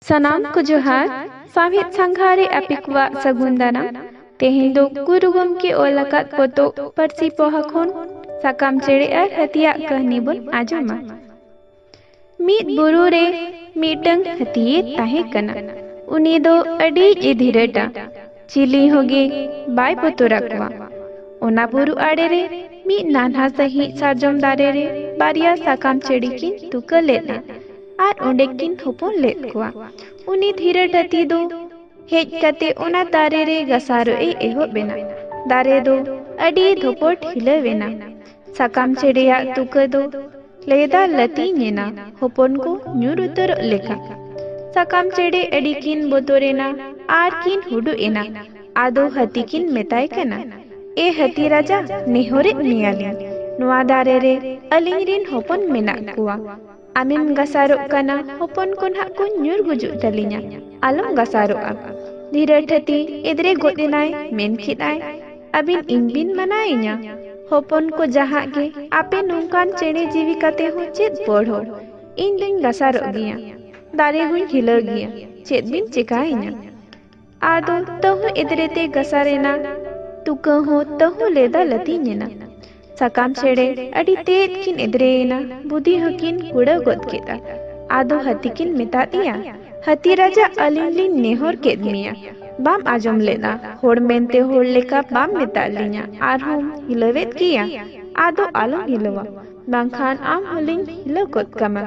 ᱥᱟᱱᱟᱢ ᱠᱚ ᱡᱚᱦᱟᱨ ᱥᱟᱶᱦᱮᱫ ᱥᱟᱸᱜᱷᱟ ᱨᱮ ᱟᱯᱮ ᱠᱚᱣᱟᱜ ᱥᱟᱹᱜᱩᱱ ᱫᱟᱨᱟᱢ ᱛᱮᱦᱮᱧ ᱫᱚ ᱜᱩᱨᱩ ᱜᱚᱢᱠᱮ ᱚᱞ ᱟᱠᱟᱫ ᱯᱚᱛᱚᱵ ᱯᱟᱹᱨᱥᱤ ᱯᱚᱦᱟ ᱠᱷᱚᱱ ᱥᱟᱠᱟᱢ ᱪᱮᱬᱮ ᱟᱨ ᱦᱟᱹᱛᱤᱭᱟᱜ ᱠᱟᱹᱦᱱᱤ ᱵᱚᱱ ᱟᱸᱡᱚᱢᱟ ᱢᱤᱫ ᱵᱩᱨᱩ ᱨᱮ ᱢᱤᱫᱴᱟᱝ ᱦᱟᱹᱛᱤᱭᱮ ᱛᱟᱦᱮᱸ ᱠᱟᱱᱟ ᱩᱱᱤ ᱫᱚ ᱟᱹᱰᱤ ᱮ ᱫᱷᱤᱨᱟᱹᱴᱟ ᱪᱤᱞᱤ ᱦᱚᱸᱜᱮ ᱵᱟᱭ ᱵᱚᱛᱚᱨ ᱟᱠᱚᱣᱟ ᱚᱱᱟ ᱵᱩᱨᱩ ᱟᱲᱮ ᱨᱮ ᱢᱤᱫ ᱱᱟᱱᱦᱟ ᱥᱟᱺᱦᱤᱡ ᱥᱟᱨᱡᱚᱢ ᱫᱟᱨᱮ ᱨᱮ ᱵᱟᱨᱭᱟ ᱥᱟᱠᱟᱢ ᱪᱮᱬᱮ ᱠᱤᱱ ᱛᱩᱠᱟᱹ ᱞᱮᱫᱼᱟ ᱟᱨ ᱚᱸᱰᱮ ᱠᱤᱱ ᱦᱚᱯᱚᱱ ᱞᱮᱫ ᱠᱚᱣᱟ ᱩᱱᱤ ᱫᱷᱤᱨᱟᱹᱴ ᱦᱟᱹᱛᱤ ᱫᱚ ᱦᱮᱡ ᱠᱟᱛᱮ ᱚᱱᱟ ᱫᱟᱨᱮ ᱨᱮ ᱜᱟᱥᱟᱨᱚᱜ ᱮ ᱮᱦᱚᱵ ᱮᱱᱟ ᱫᱟᱨᱮ ᱫᱚ ᱟᱹᱰᱤ ᱫᱷᱚᱯᱚᱴ ᱦᱤᱞᱟᱹᱣ ᱮᱱᱟ ᱥᱟᱠᱟᱢ ᱪᱮ ᱨᱮᱭᱟᱜ ᱛᱩᱠᱟᱹ ᱫᱚ ᱞᱟᱹᱭᱫᱟ ᱞᱟᱹᱛᱤᱧ ᱮᱱᱟ ᱦᱚᱯᱚᱱ ᱠᱚ ᱧᱩᱨ ᱩᱛᱟᱹᱨᱚᱜ ᱞᱮᱠᱟ ᱥᱟᱠᱟᱢ ᱪᱮᱬᱮ ᱟᱹᱰᱤ ᱠᱤᱱ ᱵᱚᱛᱚᱨ ᱮᱱᱟ ᱟᱨ ᱠᱤᱱ ᱦᱩᱰᱩ ᱮᱱᱟ ᱟᱫᱚ ᱦᱟᱹᱛᱤ ᱠᱤᱱ ᱢᱮᱛᱟᱭ ᱠᱟᱱᱟ ᱮ ᱦᱟᱹᱛᱤ ᱨᱟᱡᱟ ᱱᱮᱦᱚᱨᱮᱫ ᱢᱮᱭᱟᱞᱤᱧ ᱱᱚᱣᱟ ᱫᱟᱨᱮ ᱨᱮ ᱟᱹᱞᱤᱧ ᱨᱤᱱ ᱦᱚᱯᱚᱱ ᱢᱮᱱᱟᱜ ᱠᱚᱣᱟ ᱟᱢᱮᱢ ᱜᱟᱥᱟᱨᱚᱜ ᱠᱟᱱᱟ ᱦᱚᱯᱚᱱ ᱠᱚ ᱱᱟᱦᱟᱜ ᱠᱚ ᱧᱩᱨ ᱜᱩᱡᱩᱜ ᱛᱟᱹᱞᱤᱧᱟ ᱟᱞᱚᱢ ᱜᱟᱥᱟᱨᱚᱜᱼᱟ ᱫᱷᱤᱨᱟᱹ ᱴᱷᱟᱹᱛᱤ ᱮᱫᱽᱨᱮ ᱜᱚᱫ ᱮᱱᱟᱭ ᱢᱮᱱ ᱠᱮᱫ ᱟᱭ ᱟᱹᱵᱤᱱ ᱤᱧ ᱵᱤᱱ ᱢᱟᱱᱟᱭᱤᱧᱟ ᱦᱚᱯᱚᱱ ᱠᱚ ᱡᱟᱦᱟᱸ ᱜᱮ ᱟᱯᱮ ᱱᱚᱝᱠᱟᱱ ᱪᱮᱬᱮ ᱡᱤᱣᱤ ᱠᱟᱛᱮ ᱦᱚᱸ ᱪᱮᱫ ᱯᱚᱲᱦᱚ ᱤᱧ ᱫᱩᱧ ᱜᱟᱥᱟᱨᱚᱜ ᱜᱮᱭᱟ ᱫᱟᱨᱮ ᱦᱚᱸᱧ ᱦᱤᱞᱟᱹᱣ ᱜᱮᱭᱟ ᱪᱮᱫ ᱵᱤᱱ ᱪᱮᱠᱟᱭᱤᱧᱟ ᱟᱫᱚ ᱛᱟᱹᱦᱩ ᱮᱫᱨᱮ ᱛᱮ ᱜᱟᱥᱟᱨ ᱮᱱᱟ ᱛᱩᱠᱟᱹ ᱦᱚᱸ ᱛᱟᱹᱦᱩ ᱞᱮᱫᱟ ᱞᱟᱹᱛᱤᱧ ᱮᱱᱟ ᱥᱟᱠᱟᱢ ᱪᱮᱬᱮ ᱟᱹᱰᱤ ᱛᱮᱫ ᱠᱤᱱ ᱮᱫᱨᱮ ᱮᱱᱟ ᱵᱩᱫᱷᱤ ᱦᱚᱸᱠᱤᱱ ᱠᱩᱲᱟᱹᱣ ᱜᱚᱫ ᱠᱮᱫᱟ ᱟᱫᱚ ᱦᱟᱹᱛᱤ ᱠᱤᱱ ᱢᱮᱛᱟ ᱫᱮᱭᱟ ᱦᱟᱹᱛᱤ ᱨᱟᱡᱟ ᱟᱹᱞᱤᱧ ᱞᱤᱧ ᱱᱮᱦᱚᱨ ᱠᱮᱫ ᱢᱮᱭᱟ ᱵᱟᱢ ᱟᱸᱡᱚᱢ ᱞᱮᱫᱟ ᱦᱚᱲ ᱢᱮᱱᱛᱮ ᱦᱚᱲ ᱞᱮᱠᱟ ᱵᱟᱢ ᱢᱮᱛᱟᱫ ᱞᱤᱧᱟ ᱟᱨᱦᱚᱸᱢ ᱦᱤᱞᱟᱹᱣᱮᱫ ᱜᱮᱭᱟ ᱟᱫᱚ ᱟᱞᱚᱢ ᱦᱤᱞᱟᱹᱣᱟ ᱵᱟᱝᱠᱷᱟᱱ ᱟᱢ ᱦᱚᱸᱞᱤᱧ ᱦᱤᱞᱟᱹᱣ ᱜᱚᱫ ᱠᱟᱢᱟ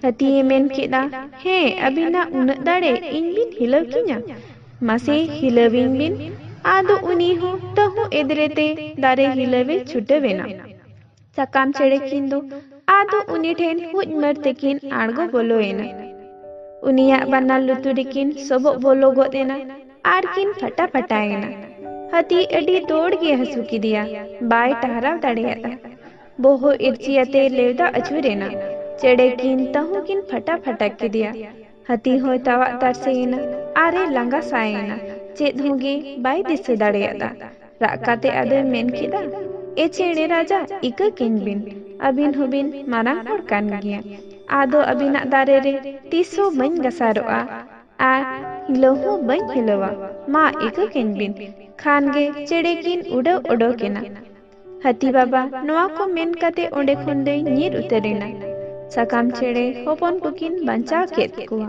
ᱦᱟᱹᱛᱤᱭᱮ ᱢᱮᱱ ᱠᱮᱫᱼᱟ ᱦᱮᱸ ᱟᱹᱵᱤᱱᱟᱜ ᱩᱱᱟᱹᱜ ᱫᱟᱲᱮ ᱤᱧ ᱵᱤᱱ ᱦᱤᱞᱟᱹᱣ ᱠᱤᱧᱟ ᱢᱟᱥᱮ ᱦᱤᱞᱟᱹᱣᱤᱧ ᱵᱤᱱ ᱟᱫᱚ ᱩᱱᱤ ᱦᱚᱸ ᱛᱟᱹᱦᱩ ᱮᱫᱨᱮᱛᱮ ᱫᱟᱨᱮ ᱦᱤᱞᱟᱹᱣᱮ ᱪᱷᱩᱴᱟᱹᱣᱮᱱᱟ ᱥᱟᱠᱟᱢ ᱪᱮᱬᱮ ᱠᱤᱱ ᱫᱚ ᱟᱫᱚ ᱩᱱᱤ ᱴᱷᱮᱱ ᱦᱩᱡ ᱢᱟᱹᱨ ᱛᱮᱠᱤᱱ ᱟᱬᱜᱚ ᱵᱚᱞᱚᱭᱮᱱᱟ ᱩᱱᱤᱭᱟᱜ ᱵᱟᱱᱟᱨ ᱞᱩᱛᱩᱨ ᱨᱮᱠᱤᱱ ᱥᱚᱵᱚᱜ ᱵᱚᱞᱚ ᱜᱚᱫ ᱮᱱᱟ ᱟᱨ ᱠᱤᱱ ᱯᱷᱟᱴᱟ ᱯᱷᱟᱴᱟᱭᱮᱱᱟ ᱦᱟᱹᱛᱤ ᱟᱹᱰᱤ ᱫᱚᱲ ᱜᱮ ᱦᱟᱹᱥᱩ ᱠᱮᱫᱮᱭᱟ ᱵᱟᱭ ᱴᱟᱦᱨᱟᱣ ᱫᱟᱲᱮᱭᱟᱫᱟ ᱵᱚᱦᱚᱜ ᱤᱨᱪᱤᱭᱟᱛᱮ ᱞᱮᱣᱫᱟ ᱟᱹᱪᱩᱨ ᱮᱱᱟ ᱪᱮᱬᱮ ᱠᱤᱱ ᱛᱟᱹᱦᱩ ᱠᱤᱱ ᱯᱷᱟᱴᱟ ᱯᱷᱟᱴᱟ ᱠᱮᱫᱮᱭᱟ ᱦᱟᱹᱛᱤ ᱦᱚᱸᱭ ᱛᱟᱣᱟᱜ ᱛᱟᱨᱥᱮ ᱮᱱᱟ ᱟᱨ ᱮ ᱞᱟᱸᱜᱟ ᱥᱟᱭ ᱮᱱᱟ ᱪᱮᱫ ᱦᱚᱸ ᱜᱮ ᱵᱟᱭ ᱫᱤᱥᱟᱹ ᱫᱟᱲᱮᱭᱟᱫᱟ ᱨᱟᱜ ᱠᱟᱛᱮ ᱟᱫᱚᱭ ᱢᱮᱱ ᱠᱮᱫᱟ ᱮ ᱪᱮᱬᱮ ᱨᱟᱡᱟ ᱤᱠᱟᱹ ᱠᱤᱧ ᱵᱤᱱ ᱟᱹᱵᱤᱱ ᱦᱚᱸᱵᱤᱱ ᱢᱟᱨᱟᱝ ᱦᱚᱲ ᱠᱟᱱ ᱜᱮᱭᱟ ᱟᱫᱚ ᱟᱹᱵᱤᱱᱟᱜ ᱫᱟᱨᱮ ᱨᱮ ᱛᱤᱥ ᱦᱚᱸ ᱵᱟᱹᱧ ᱜᱟᱥᱟᱨᱚᱜᱼᱟ ᱟᱨ ᱦᱤᱞᱟᱹᱣ ᱦᱚᱸ ᱵᱟᱹᱧ ᱦᱤᱞᱟᱹᱣᱟ ᱢᱟ ᱤᱠᱟᱹ ᱠᱤᱧ ᱵᱤᱱ ᱠᱷᱟᱱ ᱜᱮ ᱪᱮᱬᱮ ᱠᱤᱱ ᱩᱰᱟᱹᱣ ᱚᱰᱚᱠ ᱮᱱᱟ ᱦᱟᱹᱛᱤ ᱵᱟᱵᱟ ᱱᱚᱣᱟ ᱠᱚ ᱢᱮᱱ ᱠᱟᱛᱮ ᱚᱸᱰᱮ ᱠᱷᱚᱱ ᱫᱚᱭ ᱧᱤᱨ ᱩᱛᱟᱹᱨ ᱮᱱᱟ᱾ ᱥᱟᱠᱟᱢ ᱪᱮᱬᱮ ᱦᱚᱯᱚᱱ ᱠᱚᱠᱤᱱ ᱵᱟᱧᱪᱟᱣ ᱠᱮᱫ ᱠᱚᱣᱟ᱾